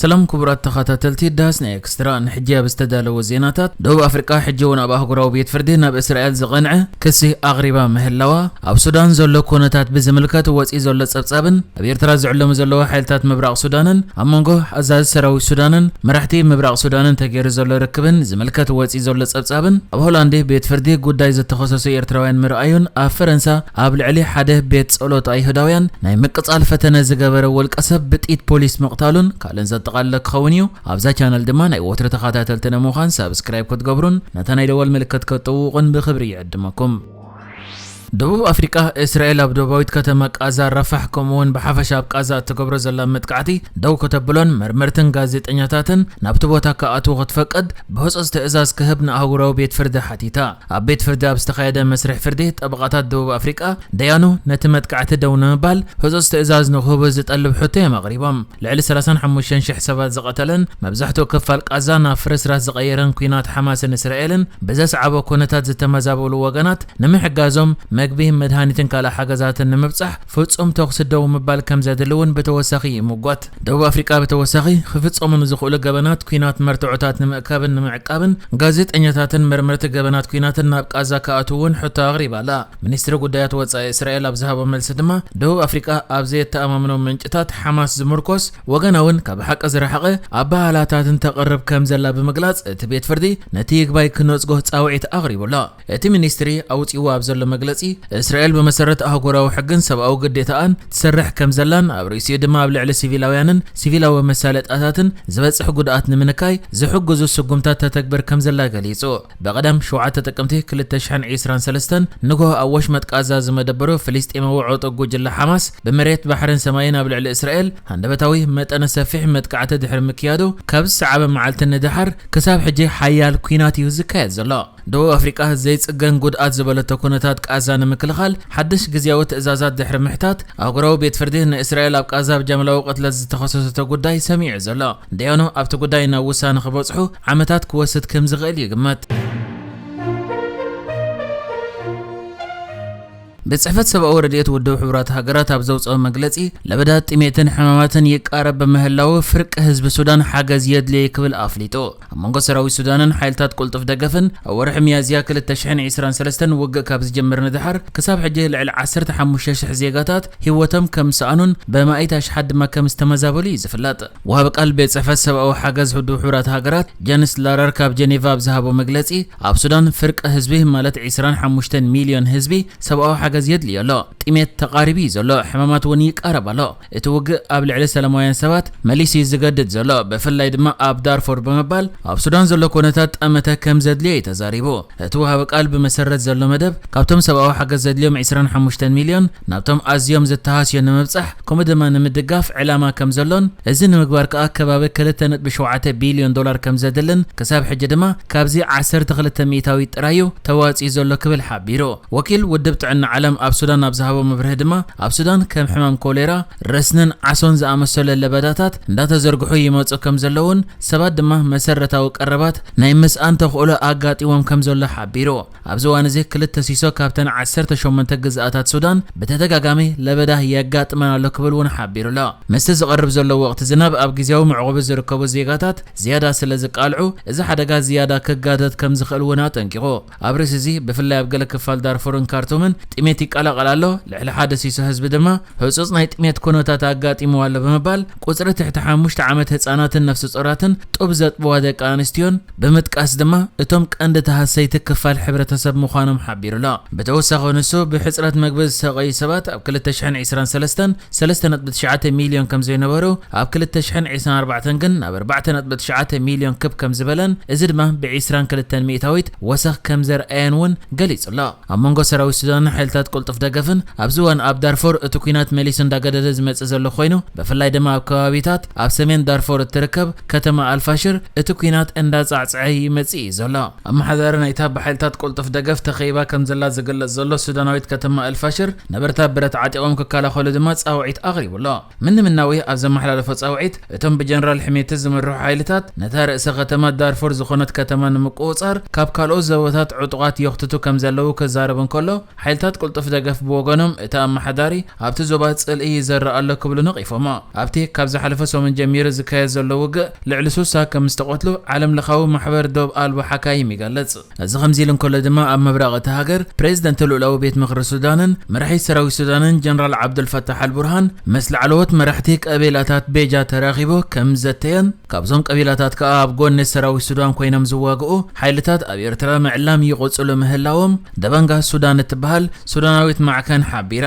ሰላም ክቡራት ተኸታተልቲ ዳስና ኤክስትራ፣ ንሕጂ ኣብ ዝተዳለወ ዜናታት፣ ደቡብ ኣፍሪቃ ሕጂ እውን ኣብ ኣህጉራዊ ቤት ፍርዲ ናብ እስራኤል ዝቐንዐ ክሲ ኣቕሪባ ምህላዋ፣ ኣብ ሱዳን ዘሎ ኩነታት ብዝምልከት ወጺኡ ዘሎ ጸብጻብን ኣብ ኤርትራ ዝዕለሙ ዘለዉ ሓይልታት ምብራቕ ሱዳንን ኣብ መንጎ ኣዛዚ ሰራዊት ሱዳንን መራሕቲ ምብራቕ ሱዳንን ተገይሩ ዘሎ ርክብን ዝምልከት ወጺኡ ዘሎ ጸብጻብን ኣብ ሆላንድ ቤት ፍርዲ ጉዳይ ዝተኸሰሱ ኤርትራውያን ምርኣዩን ኣብ ፈረንሳ ኣብ ልዕሊ ሓደ ቤት ጸሎት ኣይሁዳውያን ናይ ምቅጻል ፈተነ ዝገበረ ወልቀ ሰብ ብጥይት ፖሊስ ምቕታሉን ካልእን ዘጠቓልለ ክኸውን እዩ። ኣብዛ ቻነል ድማ ናይ ወትሩ ተኻታተልቲ ንምዃን ሳብስክራይብ ክትገብሩን ነታ ናይ ደወል ምልክት ክትጥውቑን ብኽብሪ ይዕድመኩም። ደቡብ ኣፍሪቃ፣ እስራኤል ኣብ ደቡባዊት ከተማ ቃዛ ራፋሕ ከምኡ'ውን ብሓፈሻ ኣብ ቃዛ እትገብሮ ዘላ መጥቃዕቲ ደው ከተብሎን መርመርትን ጋዜጠኛታትን ናብቲ ቦታ ክኣትዉ ክትፈቅድ ብህጹጽ ትእዛዝ ክህብ ንኣህጉራዊ ቤት ፍርዲ ሓቲታ። ኣብ ቤት ፍርዲ ኣብ ዝተኻየደ መስርሕ ፍርዲ፣ ጠበቓታት ደቡብ ኣፍሪቃ፣ ደያኑ ነቲ መጥቃዕቲ ደው ንምባል ህጹጽ ትእዛዝ ንክህቡ ዝጠልብ ሕቶ እዮም ኣቕሪቦም። ልዕሊ ሰላሳን ሓሙሽተን ሽሕ ሰባት ዝቐተለን መብዛሕትኡ ክፋል ቓዛ ናብ ፍርስራስ ዝቐየረን ኲናት ሓማስን እስራኤልን ብዘስዓቦ ኩነታት ዝተመዛበሉ ወገናት ንምሕጋዞም መግቢ፣ መድሃኒትን ካልእ ሓገዛትን ንምብጻሕ ፍጹም ተዅሲ ደው ምባል ከም ዘድሊ እውን ብተወሳኺ ይምጐት። ደቡብ ኣፍሪቃ ብተወሳኺ ክፍጸሙ ንዝኽእሉ ገበናት ኲናት መርትዖታት ንምእካብን ንምዕቃብን ጋዜጠኛታትን መርመርቲ ገበናት ኲናትን ናብ ቃዛ ክኣትዉ እውን ሕቶ ኣቕሪባ ኣላ። ሚኒስትሪ ጉዳያት ወጻኢ እስራኤል ኣብ ዝሃቦ መልሲ ድማ ደቡብ ኣፍሪቃ ኣብ ዘየተኣማምኑ ምንጭታት ሓማስ ዝምርኮስ ወገናውን ካብ ሓቂ ዝረሓቐ ኣበሃህላታትን ተቕርብ ከምዘላ ብምግላጽ እቲ ቤት ፍርዲ ነቲ ይግባይ ክነጽጎ ጻውዒት ኣቕሪቡ ኣሎ። እቲ ሚኒስትሪ ኣውጺእዎ ኣብ ዘሎ መግለጺ፣ እስራኤል ብመሰረት ኣህጉራዊ ሕግን ሰብኣዊ ግዴታኣን ትሰርሕ ከምዘላን ኣብ ርእሲኡ ድማ ኣብ ልዕሊ ሲቪላውያንን ሲቪላዊ መሳለጥያታትን ዝበጽሕ ጉድኣት ንምንካይ ዝሕግዙ ስጉምታት ተተግብር ከምዘላ ገሊጹ። ብቐዳም ሸውዓተ ጥቅምቲ ክልተ ሽሕን ዒስራን ሰለስተን ንግሆ ኣብ ወሽመጥ ቃዛ ዝመደበሩ ፍልስጤማዊ ዑጡብ ጉጅለ ሓማስ ብመሬት፣ ባሕርን ሰማይን ኣብ ልዕሊ እስራኤል ሃንደበታዊ መጠነ ሰፊሕ መጥቃዕቲ ድሕሪ ምክያዱ ካብ ዝሰዓበ መዓልቲ ንደሓር ክሳብ ሕጂ ሓያል ኲናት እዩ ዝካየድ ዘሎ። ደቡብ ኣፍሪቃ ዘይጽገን ጉድኣት ዝበለቶ ኩነታት ቃዛ ንምክልኻል ሓድሽ ግዝያዊ ትእዛዛት ድሕሪ ምሕታት፣ ኣህጉራዊ ቤት ፍርዲ ንእስራኤል ኣብ ቃዛ ብጃምላዊ ቅትለት ዝተኸሰሰቶ ጉዳይ ሰሚዑ'ዩ ዘሎ። ደያኑ ኣብቲ ጉዳይ ናብ ውሳነ ክበጽሑ ዓመታት ክወስድ ከምዝኽእል ይግመት። ቤት ጽሕፈት ሰብኣዊ ረድኤት ውድብ ሕቡራት ሃገራት ኣብ ዘውጽኦ መግለጺ፣ ለበዳ ጥሜትን ሕማማትን ይቃረብ ብምህላዉ ፍርቂ ህዝቢ ሱዳን ሓገዝ የድልዮ'ዩ ክብል ኣፍሊጡ። ኣብ መንጎ ሰራዊት ሱዳንን ሓይልታት ቅልጡፍ ደገፍን ኣብ ወርሒ ሚያዝያ ክልተ ሽሕን ዒስራን ሰለስተን ውግእ ካብ ዝጅምር ንደሓር ክሳብ ሕጂ ልዕሊ ዓሰርተ ሓሙሽተ ሽሕ ዜጋታት ህይወቶም ከም ዝሰኣኑን ብኣማኢት ኣሽሓት ድማ ከም ዝተመዛበሉ'ዩ ዝፍለጥ። ወሃቢ ቃል ቤት ጽሕፈት ሰብኣዊ ሓገዝ ውድብ ሕቡራት ሃገራት ጀንስ ላረር ካብ ጀኔቫ ኣብ ዝሃቦ መግለጺ ኣብ ሱዳን ፍርቂ ህዝቢ ማለት ዕስራን ሓሙሽተን ሚልዮን ህዝቢ ሰብኣዊ ሓገዝ የድልዮ ኣሎ። ጥሜት ተቓሪቡ እዩ ዘሎ፣ ሕማማት እውን ይቃረብ ኣሎ። እቲ ውግእ ኣብ ልዕሊ ሰላማውያን ሰባት መሊሱ እዩ ዝገድድ ዘሎ፣ ብፍላይ ድማ ኣብ ዳርፉር ብምባል ኣብ ሱዳን ዘሎ ኩነታት ጠመተ ከም ዘድልዮ እዩ ተዛሪቡ። እቲ ወሃቢ ቃል ብመሰረት ዘሎ መደብ ካብቶም ሰብኣዊ ሓገዝ ዘድልዮም ዕስራን ሓሙሽተን ሚልዮን ናብቶም ኣዝዮም ዝተሃስዩ ንምብጻሕ ከምኡ ድማ ንምድጋፍ ዕላማ ከምዘሎን እዚ ንምግባር ከኣ ከባቢ ክልተ ነጥቢ ሸውዓተ ቢልዮን ዶላር ከምዘድልን ክሳብ ሕጂ ድማ ካብዚ ዓሰርተ ክልተ ሚእታዊት ጥራይ'ዩ ተዋጺኡ ዘሎ ክብል ሓቢሩ። ወኪል ውድብ ጥዕና ዓለም ኣብ ሱዳን ኣብ ዝሃቦ መብርሂ ድማ ኣብ ሱዳን ከም ሕማም ኮሌራ፣ ረስንን ዓሶን ዝኣመሰሉ ለበዳታት እንዳተዘርግሑ ይመጹ ከምዘለዉን ሰባት ድማ መሰረታዊ ቀረባት ናይ ምስኣን ተኽእሎ ኣጋጢሞም ከምዘሎ ሓቢሩ። ኣብዚ እዋን እዚ ክልተ ሲሶ ካብተን ዓሰርተ ሸሞንተ ግዝኣታት ሱዳን ብተደጋጋሚ ለበዳ የጋጥመን ኣሎ ክብል እውን ሓቢሩ ኣሎ። ምስቲ ዝቐርብ ዘሎ ወቕቲ ዝናብ ኣብ ግዝያዊ መዕቖቢ ዝርከቡ ዜጋታት ዝያዳ ስለ ዝቃልዑ እዚ ሓደጋ ዝያዳ ክጋደድ ከም ዝኽእል እውን ኣጠንቂቑ። ኣብ ርእሲ እዚ ብፍላይ ኣብ ገለ ክፋል ዳርፉርን ካርቱምን ጥሜት ይቀላቐል ኣሎ፣ ልዕሊ ሓደ ሲሶ ህዝቢ ድማ ህጹጽ ናይ ጥሜት ኩነታት ኣጋጢምዎ ኣሎ ብምባል ቁጽሪ ትሕቲ ሓሙሽተ ዓመት ህጻናትን ነፍሰጾራትን ጡብ ዘጥብዋ ደቂ ኣንስትዮን ብምጥቃስ ድማ እቶም ቀንዲ ተሃሰይቲ ክፋል ሕብረተሰብ ምዃኖም ሓቢሩ'ሎ። ብተወሳኺ ንሱ ብሕጽረት መግቢ ዝሰቐዩ ሰባት ኣብ ክልተ ሽሕን ዕስራን ሰለስተን ሰለስተ ነጥቢ ትሽዓተ ሚልዮን ከምዘይነበሩ ኣብ ክልተ ሽሕን ዕስራን ኣርባዕተን ግን ናብ ኣርባዕተ ነጥቢ ትሽዓተ ሚልዮን ክብ ከምዝበለን እዚ ድማ ብዕስራን ክልተን ሚእታዊት ወሰኽ ከምዘርኣየን'ውን ገሊጹ'ሎ። ኣብ መንጎ ሰራዊት ሱዳንን ሓይልታት ቅልጡፍ ደገፍን ኣብዚ እዋን ኣብ ዳርፎር እቲ ኲናት መሊሱ እንዳገደደ ዝመጽእ ዘሎ ኮይኑ ብፍላይ ድማ ኣብ ከባቢታት ኣብ ሰሜን ዳርፎር እትርከብ ከተማ ኣልፋሽር እቲ ኲናት እንዳጻዕጸዐ ይመጽእ እዩ ዘሎ። ኣመሓዳሪ ናይታ ብሓይልታት ቅልጡፍ ደገፍ ተኸቢባ ከምዘላ ዝግለጽ ዘሎ ሱዳናዊት ከተማ ኣልፋሽር ነበርታ ብረት ዓጢቖም ክከላኸሉ ድማ ጻውዒት ኣቕሪቡ ኣሎ። ምንምናዊ ኣብ ዘመሓላለፎ ጻውዒት፣ እቶም ብጀነራል ሕሜቲ ዝምርሑ ሓይልታት ነታ ርእሰ ከተማ ዳርፉር ዝኾነት ከተማ ንምቁውጻር ካብ ካልኦት ዞባታት ዕጡቓት የኽትቱ ከምዘለዉ ክዛረብ እንከሎ፣ ሓይልታት ቅልጡፍ ደገፍ ብወገኖም እቲ ኣመሓዳሪ ኣብቲ ዞባ ጽልኢ ይዘርእ ኣሎ ክብሉ ነቒፎሞ። ኣብቲ ካብ ዝሓለፈ ሰሙን ጀሚሩ ዝካየድ ዘሎ ውግእ ልዕሊ ስሳ ከምዝተቐትሉ ዓለምለኻዊ ማሕበር ዶብ ኣልቦ ሓካይም ይገልጽ። እዚ ከምዚ'ሉ እንከሎ ድማ ኣብ ምብራቕ እታ ሃገር ፕሬዝደንት ልኡላዊ ቤት ምኽሪ ሱዳንን መራሒ ሰራዊት ሱዳንን ጀነራል ዓብዱልፋታሕ ኣልቡርሃን ምስ ላዕለዎት መራሕቲ ቀቢላታት ቤጃ ተራኺቡ ከምዘተየን ካብዞም ቀቢላታት ከኣ ኣብ ጎኒ ሰራዊት ሱዳን ኮይኖም ዝዋግኡ ሓይልታት ኣብ ኤርትራ ምዕላም ይቕጽሉ ምህላዎም ደበንጋ ሱዳን እትበሃል ሱዳናዊት ማዕከን ሓቢራ።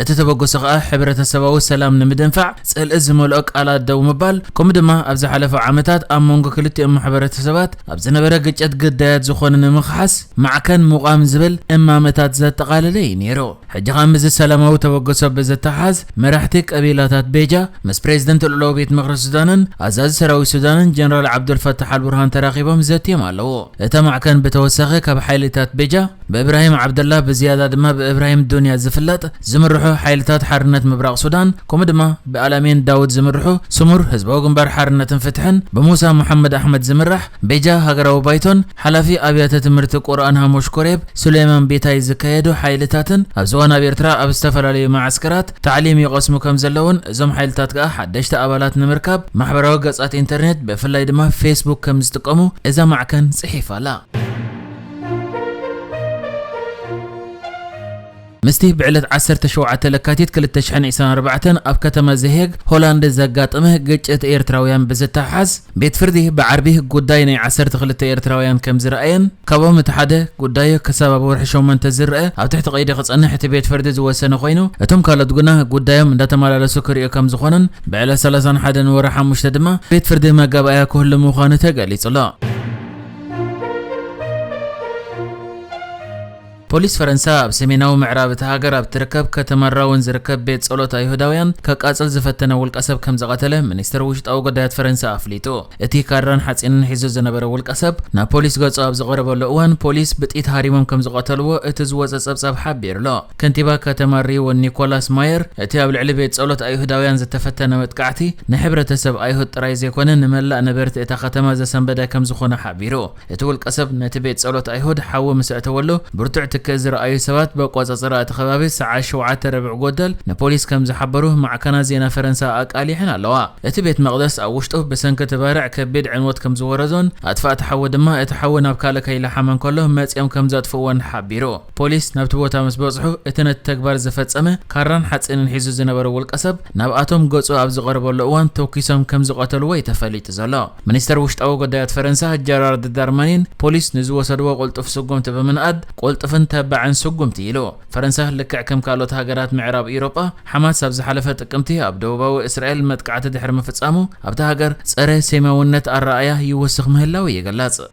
እቲ ተበግሶ ከኣ ሕብረተሰባዊ ሰላም ንምድንፋዕ ጽልኢ ዝመልኦ ቃላት ደው ምባል ከምኡ ድማ ኣብ ዝሓለፉ ዓመታት ኣብ መንጎ ክልቲኦም ማሕበረተሰባት ኣብ ዝነበረ ግጭት ግዳያት ዝኾኑ ንምኽሓስ ማዕከን ምቛም ዝብል እማመታት ዘጠቓለለ እዩ ነይሩ። ሕጂ ከኣ ምስዚ ሰላማዊ ተበግሶ ብዝተሓሓዝ መራሕቲ ቀቢላታት ቤጃ ምስ ፕሬዝደንት ልኡላዊ ቤት ምኽሪ ሱዳንን ኣዛዚ ሰራዊት ሱዳንን ጀነራል ዓብዱልፋታሕ ኣልቡርሃን ተራኺቦም ዘትዮም ኣለዉ። እታ ማዕከን ብተወሳኺ ካብ ሓይልታት ቤጃ ብእብራሂም ዓብደላ ብዝያዳ ድማ ብእብራሂም ዱንያ ዝፍለጥ ዝምርሑ ሓይልታት ሓርነት ምብራቕ ሱዳን ከምኡ ድማ ብኣላሚን ዳውድ ዝምርሑ ስሙር ህዝባዊ ግንባር ሓርነትን ፍትሕን ብሙሳ ሙሓመድ ኣሕመድ ዝምራሕ ቤጃ ሃገራዊ ባይቶን ሓላፊ ኣብያተ ትምህርቲ ቁርኣን ሃሙሽ ኮሬብ ሱሌማን ቢታይ ዝካየዱ ሓይልታትን ኣብዚ እዋን ኣብ ኤርትራ ኣብ ዝተፈላለዩ መዓስከራት ታዕሊም ይቐስሙ ከም ዘለዉን እዞም ሓይልታት ከኣ ሓደሽቲ ኣባላት ንምርካብ ማሕበራዊ ገጻት ኢንተርኔት ብፍላይ ድማ ፌስቡክ ከም ዝጥቀሙ እዛ ማዕከን ጽሒፋ ኣላ። ምስቲ ብዕለት ዓሰርተ ሸውዓተ ለካቲት ክልተ ሽሕን ዒስራን ኣርባዕተን ኣብ ከተማ ዘሄግ ሆላንድ ዘጋጠመ ግጭት ኤርትራውያን ብዝተሓሓዝ ቤት ፍርዲ ብዓርቢ ጉዳይ ናይ ዓሰርተ ክልተ ኤርትራውያን ከም ዝረኣየን ካብኦም እቲ ሓደ ጉዳዩ ክሳብ ኣብ ወርሒ ሸሞንተ ዝረኣ ኣብ ትሕቲ ቀይዲ ክጸንሕ እቲ ቤት ፍርዲ ዝወሰነ ኮይኑ እቶም ካልኦት ግና ጉዳዮም እንዳተመላለሱ ክርእዩ ከም ዝኾነን ብዕለት ሰላሳን ሓደን ወርሒ ሓሙሽተ ድማ ቤት ፍርዲ መጋባእያ ክህሉ ምዃኑ ተገሊጹ ኣሎ። ፖሊስ ፈረንሳ ኣብ ሰሜናዊ ምዕራብ እታ ሃገር ኣብ ትርከብ ከተማ ራውን ዝርከብ ቤት ጸሎት ኣይሁዳውያን ከቃጽል ዝፈተነ ውልቀሰብ ከም ዝቐተለ ሚኒስትር ውሽጣዊ ጉዳያት ፈረንሳ ኣፍሊጡ። እቲ ካራን ሓጺንን ሒዙ ዝነበረ ውልቀሰብ ናብ ፖሊስ ገጹ ኣብ ዝቐረበሉ እዋን ፖሊስ ብጥይት ሃሪሞም ከም ዝቐተልዎ እቲ ዝወጸ ጸብጻብ ሓቢሩ'ሎ። ከንቲባ ከተማ ሪውን ኒኮላስ ማየር፣ እቲ ኣብ ልዕሊ ቤት ጸሎት ኣይሁዳውያን ዝተፈተነ መጥቃዕቲ፣ ንሕብረተሰብ ኣይሁድ ጥራይ ዘይኮነ ንመላእ ነበርቲ እታ ከተማ ዘሰንበደ ከምዝኾነ ሓቢሩ። እቲ ውልቀሰብ ነቲ ቤት ጸሎት ኣይሁድ ሓዊ ምስ ኣእተወሉ፣ ብርቱዕ ትኪ ዝረኣዩ ሰባት ብኣቆጻጽራ እቲ ከባቢ ሰዓት ሸውዓተ ርብዕ ጎደል ንፖሊስ ከምዝሓበሩ ማዕከናት ዜና ፈረንሳ ኣቃሊሐን ኣለዋ። እቲ ቤት መቕደስ ኣብ ውሽጡ ብሰንኪ እቲ ባርዕ ከቢድ ዕንወት ከምዝወረዶን ኣጥፋእቲ ሓዊ ድማ እቲ ሓዊ ናብ ካልእ ከይለሓመ እንከሎ መጺኦም ከምዘጥፍእዎን ሓቢሩ። ፖሊስ ናብቲ ቦታ ምስ በጽሑ፣ እቲ ነቲ ተግባር ዝፈጸመ፣ ካራን ሓጺንን ሒዙ ዝነበረ ውልቀሰብ፣ ናብኣቶም ገጹ ኣብ ዝቐረበሉ እዋን ተኲሶም ከም ዝቐተልዎ'ዩ ተፈሊጡ ዘሎ። ሚኒስተር ውሽጣዊ ጉዳያት ፈረንሳ ጀራርድ ዳርማኒን፣ ፖሊስ ንዝወሰድዎ ቅልጡፍ ስጉምቲ ብምንኣድ፣ ቅልጡፍን ተባዕን ስጉምቲ ኢሉ። ፈረንሳ ልክዕ ከም ካልኦት ሃገራት ምዕራብ ኢውሮጳ፣ ሓማስ ኣብ ዝሓለፈ ጥቅምቲ ኣብ ደቡባዊ እስራኤል መጥቃዕቲ ድሕሪ ምፍጻሙ፣ ኣብታ ሃገር ጸረ-ሴማውነት ኣረኣእያ ይውስኽ ምህላዉ ይግለጽ።